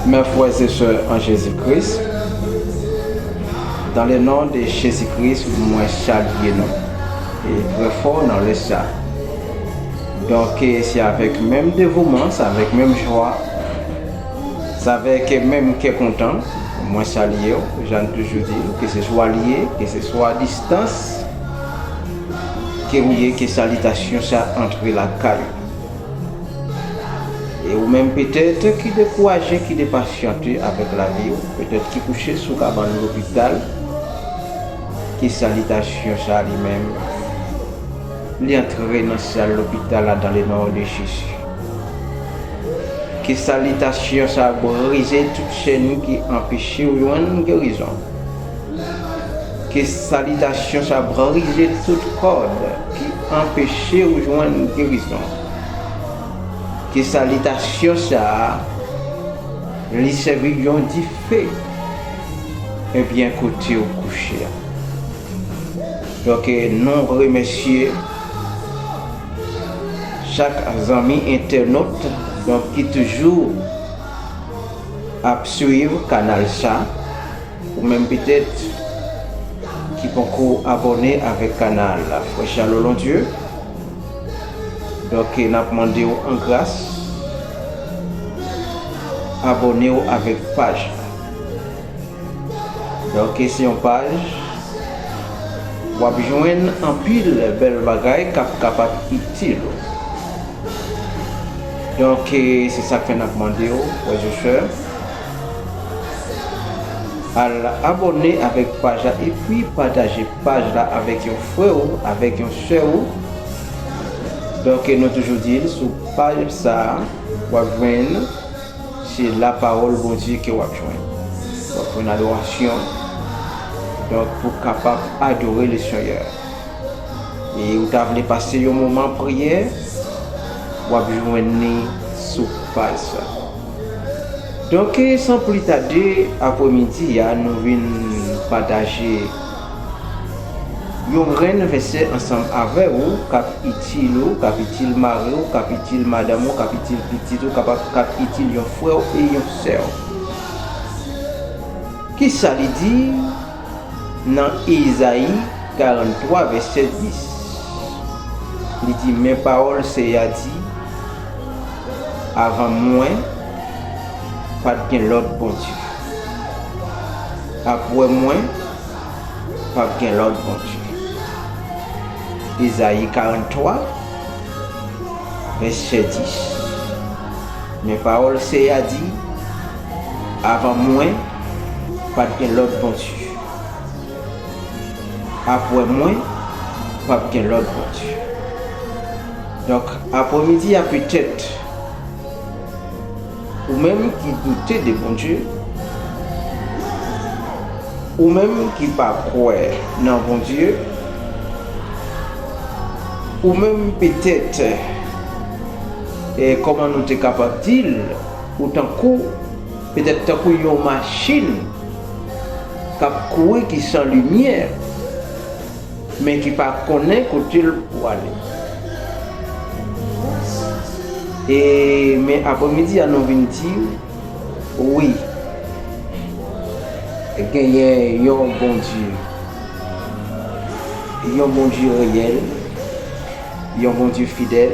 Mè frères et sœurs en Jésus Christ, dans le nom de Jésus Christ mwen salye nou trè fò nan lè sa. Donk se avèk menm devouman, se avèk menm jwa, se avèk menm kè kontan mwen salye ou, jan nou toujou di, ke se swa li ye, ke se swa a distans. Ke ou ye, ke salitasyon sa antre lakay ou. E ou menm petèt ki dekouraje, ki depasyante avèk lavi ou, petèt ki kouche sou kabann lopital, ke salitasyon sa li menm, li antre nan syèl lopital la dan le non de Jezi. Ke salitasyon sa brize tout chèn ki anpeche ou jwenn gerizon. Ke salitasyon sa brise tout kòd ki anpeche ou jwenn gerizon. Ke salitasyon sa li sèvi yon dife ebyen kote ou kouche a. Donk nou remèsye chak zanmi entènot donk ki toujou ap swiv kanal sa. Ou menm petèt ki poko abòne avèk kanal la frè Charles Londieu donk nap mandew an gras abònew avèk paj la donk se yon paj wap jwenn anpil bèl bagay kap kapab itil ou donk se sak fè nap mandew frè e sè. Al abòne avèk paj la epi pataje paj la avèk yon frè ou, avèk yon sè ou. Donk nou toujou di l sou paj sa a, w ap jwenn se lapawòl Bondye ke w ap jwenn. W ap jwenn adorasyon. Donk pou kapab adore le Seyè. E ou ta vle pase yon moman priyè, w ap jwenn ni sou paj sa. Donk san pli tade apre midi a nou vin pataje yon grenn vèsè ansanm avè ou kap itil ou, kap itil mari ou, kap itil madanm ou, kap itil pitit ou, kap itil yon frè ou e yon sè ou. Kisa li di? Nan Ezayi 43, vèsè 10, li di, Men pawòl Senyè a di, Avan mwen, pa t gen lòt bondye, apre mwen, pap gen lòt bondye. Ezayi 43, vèsè 10, Men pawòl Senyè a di, Avan mwen, pa t gen lòt bondye. Apre mwen, pa p gen lòt bondye. Donk, apremidi a petèt ou menm ki doute de Bondye, ou menm ki pa kwè nan Bondye, ou menm petèt, kòman nou te kapab di l? Ou tankou, petèt tankou yon machin k ap kouri ki san limyè, men ki pa konnen kote l prale. E men apremidi a nou vin di, wi, genyen yon Bondye, yon Bondye reyèl. Yon Bondye fidèl,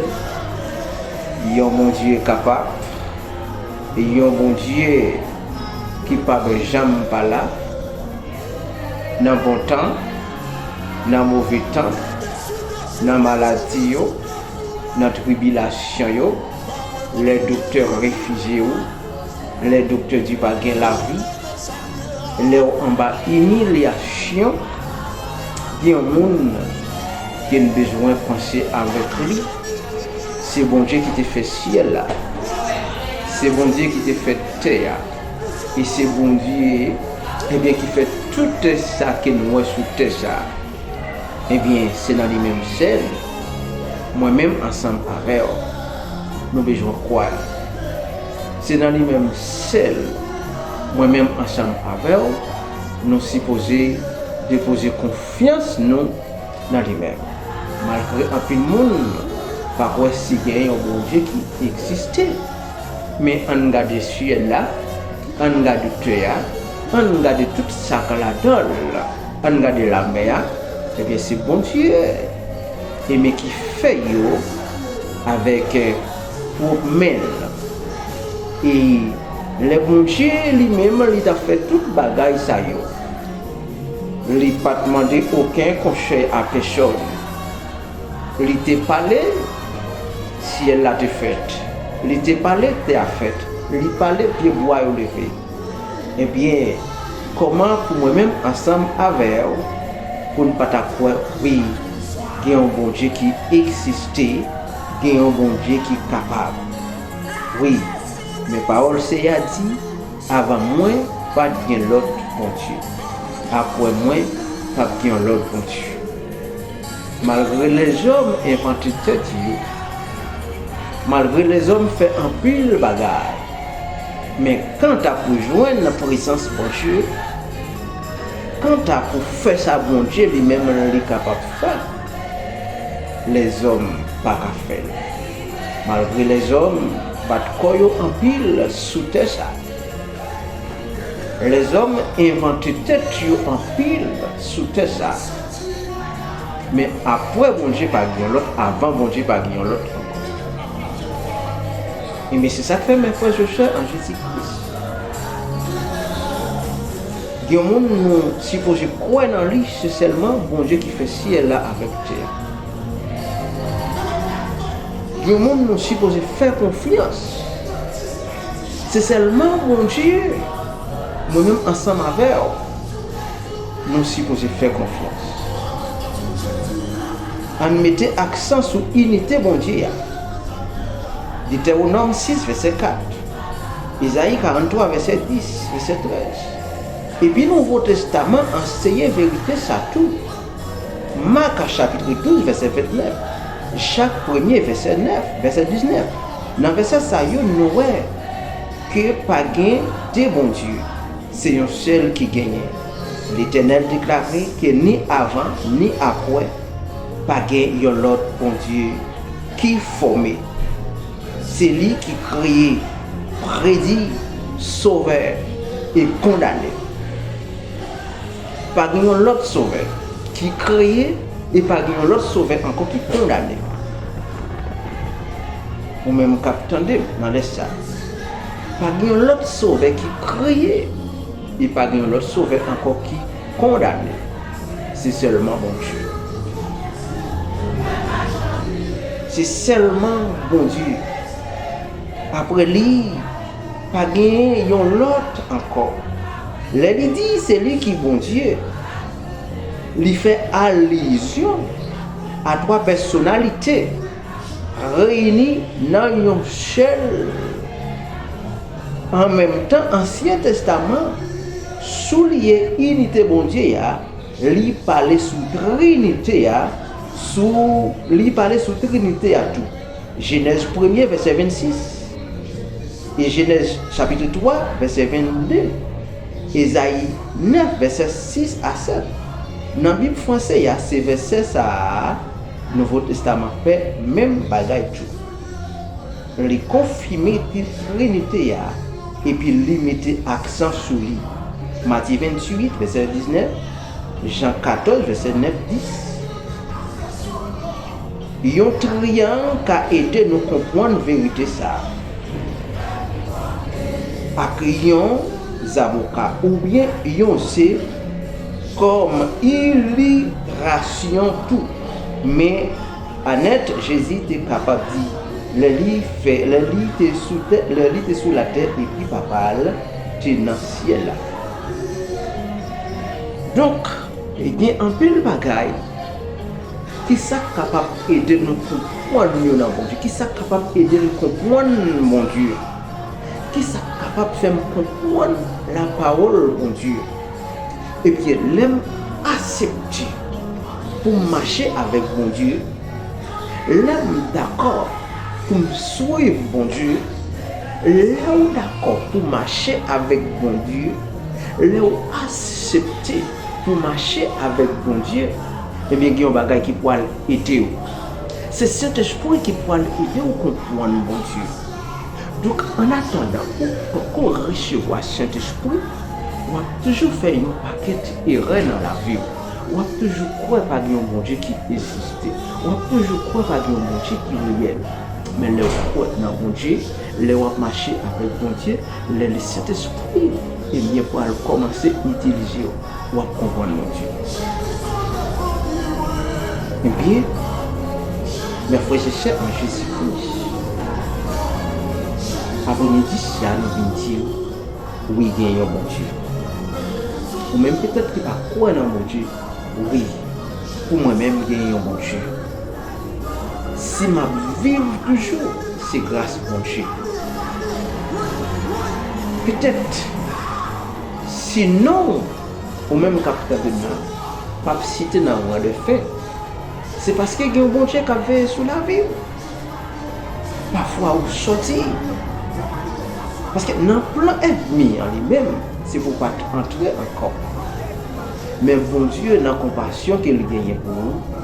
yon Bondye kapab, yon Bondye ki p ap janm pa la, nan bon tan, nan move tan, nan maladi yo, nan tribilasyon yo, lè doktè refize ou, lè doktè di pa gen lavi, Lèw anba imilyasyon gen yon moun ken bezwen panse avèk li se Bondye ki te fè syèl la se Bondye ki te fè tè a e se Bondye ebyen ki fè tout sa ken wè sou tè sa ebyen se nan li menm sèl mwen menm ansanm avèw nou bezwen kwè. Se nan li menm sèl mwen menm ansanm avè w nou sipoze depoze konfyans nou nan li menm. Malgre anpil moun pa kwè si gen yon Bondye ki egziste, men an n gade syèl la, an n gade tè a, an n gade tout sa k ladan l, an n gade lamè a, ebyen se Bondye e men ki fè yo avèk. pwòp men l. E lè Bondye li menm li t ap fè tout bagay sa yo, li pa t mande oken konsèy a pèsòn. Li te pale, syèl la te fèt, li te pale, tè a fèt, li pale, pyebwa yo leve. Ebyen, kòman pou mwen menm ansanm avè w pou n pa ta kwè wi gen yon Bondye ki egziste? Gen yon Bondye ki kapab. Wi, men pawòl Seyè a di, Avan mwen, pa t gen lòt Bondye. Apre mwen, p ap gen yon lòt Bondye. Malgre lèzòm envante tèt yo, malgre lèzòm fè anpil bagay, men kanta pou jwenn nan prezans Bondye, kanta pou fè sa Bondye li menm li kapab fè, Lèzòm pa ka fè l. Malgre lèzòm bat kò yo anpil sou tè sa. Lèzòm envante tèt yo anpil sou tè sa. Men apwè Bondye pa gen yon lòt, avan Bondye pa gen yon lòt ankò. Enben se sa k fè mè frè zè sè an Jezi Kris. Gen moun nou sipoze kwè nan li se sèlman Bondye ki fè syèl la avèk tè a. Gen moun nou sipoze fè konfyans se sèlman Bondye mwen menm ansanm avè w nou sipoze fè konfyans. Ann mete aksan sou inite Bondye a. Detèwonòm 6 vèsè 4, Ezayi 43 vèsè 10, vèsè 13. Epi Nouvo Testaman an anseye verite sa tou. Mak chapitre 12 vèsè 29, Jak premye vèsè 9, vèsè 19. Nan vèsè sa yo nou wè ke pa gen de Bondye, se yon sèl ki genyen. Letènèl deklare ke ni avan ni apwè pa gen yon lòt Bondye ki fòme. Se li ki kreye, predi, sove e kondane. Pa gen yon lòt sove ki kreye e pa gen yon lòt sove ankò ki kondane. Ou menm kap tande m nan lè sa. Pa gen yon lòt sove ki kreye e pa gen yon lòt sove ankò ki kondane. Se sèlman Bondye. Se sèlman Bondye. Apre li, pa gen yon lòt ankò. Lè li di se li ki Bondye, li fè alizyon a twa pèsonalite reyini nan yon sèl, an menm tan, Ansyen Testaman. Souliye inite Bondye a, li pale sou Trinite a, sou li pale sou Trinite a tou. Jenèz premye vèsè 26, e Jenèz chapitre 3 vèsè 22, Ezayi 9 vèsè 6 a 7. Nan Bib franse a se vèsè sa a Nouvo Testaman fè menm bagay tou. Li konfime te Trinite a epi li mete aksan sou li. Matye 28, vèsè 19, Jan 14, vèsè 9, 10. Yon triyang ka ede nou konpwann verite sa a, ak yon zaboka oubyen yon ze kòm ilirasyon tou. Men. Anèt, Jezi te kapab di, lè li fè, lè li te sou tè, lè li te sou latè epi Papa l te nan syèl la. Donk, gen anpil bagay, ki sa k kapab ede nou konprann yo nan Bondye? Ki sa k kapab ede m konprann Bondye? Ki sa k kapab fè m konprann lapawòl Bondye? Ebyen lèm asepte poum mache avèk Bondye, lèm dakò poum swiv Bondye, lè ou dakò pou mache avèk Bondye, lè ou asepte pou mache avèk Bondye, ebyen gen yon bagay ki pwal edew. Se Sentespri ki pwal edew konpwann Bondye. Donk annatandan ou poko resevwa Sentespri, Wap toujou fè yon pakèt erè nan laviw, wap toujou kwè pa gen yon Bondye ki egziste, wap toujou kwè pa gen yon Bondye ki reyèl, men lèw kwè nan Bondye, lè wap mache avèk Bondye, lè le Sentespri ebyen pral kòmanse itilizew, wap konprann Bondye. Ebyen, mè frè e sè an Jezi Kris, apremidi sia nou vin diw. Wi gen yon Bondye. Ou menm petèt ki pa kwè nan Bondye, wi, pou mwen menm gen yon Bondye. Si m ap viv toujou, se gras Bondye. Petèt, si non ou, ou menm k ap tande m la, p ap site nan ran dèfen, se paske gen yon Bondye k ap veye sou lavi ou. Pafwa ou soti. Paske nan plan ènmi an li menm, se pou w pa t antre ankò. Men Bondye nan konpasyon ke l genyen pou ou,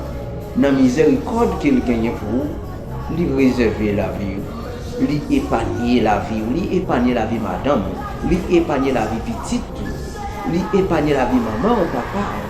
nan mizèrikòd ke l genyen pou ou, li rezève lavi ou. Li epanye lavi ou. Li epanye lavi madanm ou. Li epanye lavi pitit ou. Li epanye lavi manman ou, papa ou.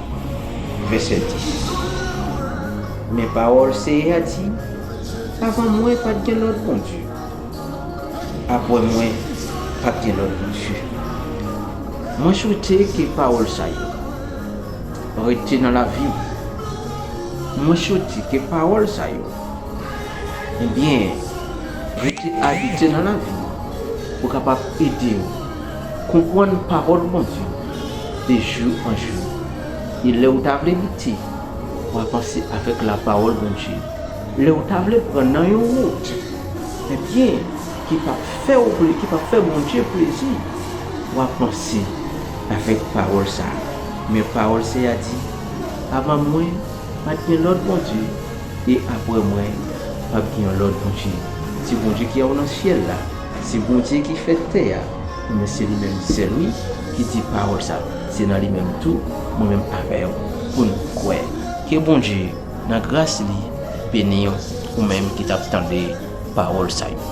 Vèsè 10 Men pawòl Senyè a di, Avan mwen, pa t gen lòt bondye, apre mwen, pa t gen lòt bondye. Mwen swete ke pawòl sa yo rete nan lavi w. Mwen swete ke pawòl sa yo, ebyen, rete abite nan lavi w pou kapab ede w. Konprann pawòl Bondye de jou an jou e lè ou ta vle lite ou avanse avèk la pawòl Bondye. Lè ou ta vle pran nan yon wout ebyen ki pap fè ou plezi ki pap fè Bondye plezi ou avanse avèk pawòl sa men pawòl Seyè a di avan mwen pat gen lòt Bondye e aprè mwen pap gen yon lòt Bondye se Bondye ki a ou nan syèl la. Se Bondye ki fè tè a, men se li menm sèl wi ki di pawòl sa, se nan li menm tou mwen menm avèw poun kwè. Ke Bondye nan gras li beniw ou menm ki tap tande pawòl sa yo.